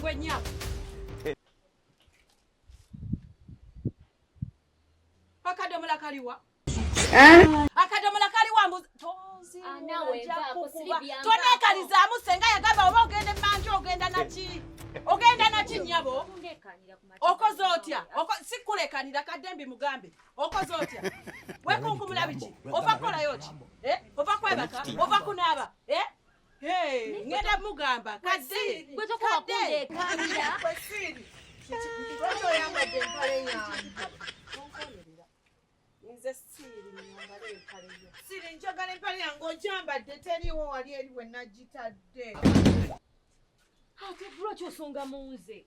Gwe nyabo. Akadomola kaliwa. Eh? Akadomola kaliwa mbuzi. Tozi. Anawe ah, va kukuba. Tone kaliza musenga yagaba oba ogende manje ogenda na chi. Ogenda na chi nyabo. Okoze otya? Oko sikulekanira kadembi mugambe. Okoze otya? Wekunkumula biki? Ova kola yoki. Eh? Ova kwebaka, ova kunaba. Eh? ngenda mugamba kadde gwe tokoba kundeekaanira nze siiri njagala empale yange ojambadde teriiwo wali eri we nagitadde ate bro kyosonga mu nze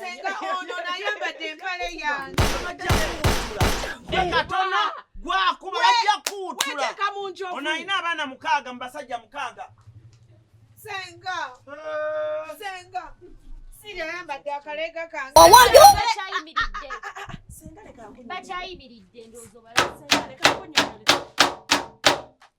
senga ono nayambadde empale yangeatona gwakuba bajja kuwutula ono alina abaana mukaaga mu basajja mukaaga senga eh. senga bakyayimiridde ndowooza obala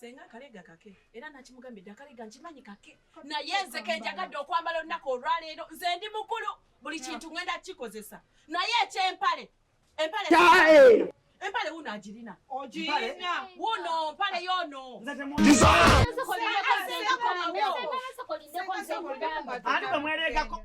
Senga akalega kake era nakimugambidde akalega nkimanyi kake naye nze kenjagadde okwambala olunaku olwaleero nze ndi mukulu buli kintu ngenda kikozesa naye ekyempale empale empale wuno agirina ogirina wuno mpale yono ani bwemweregako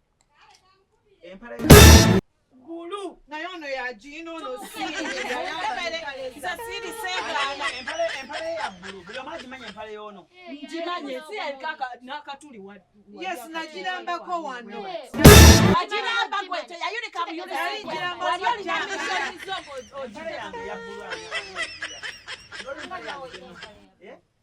Gulu naye ono yagiina ono yes nagirambako wano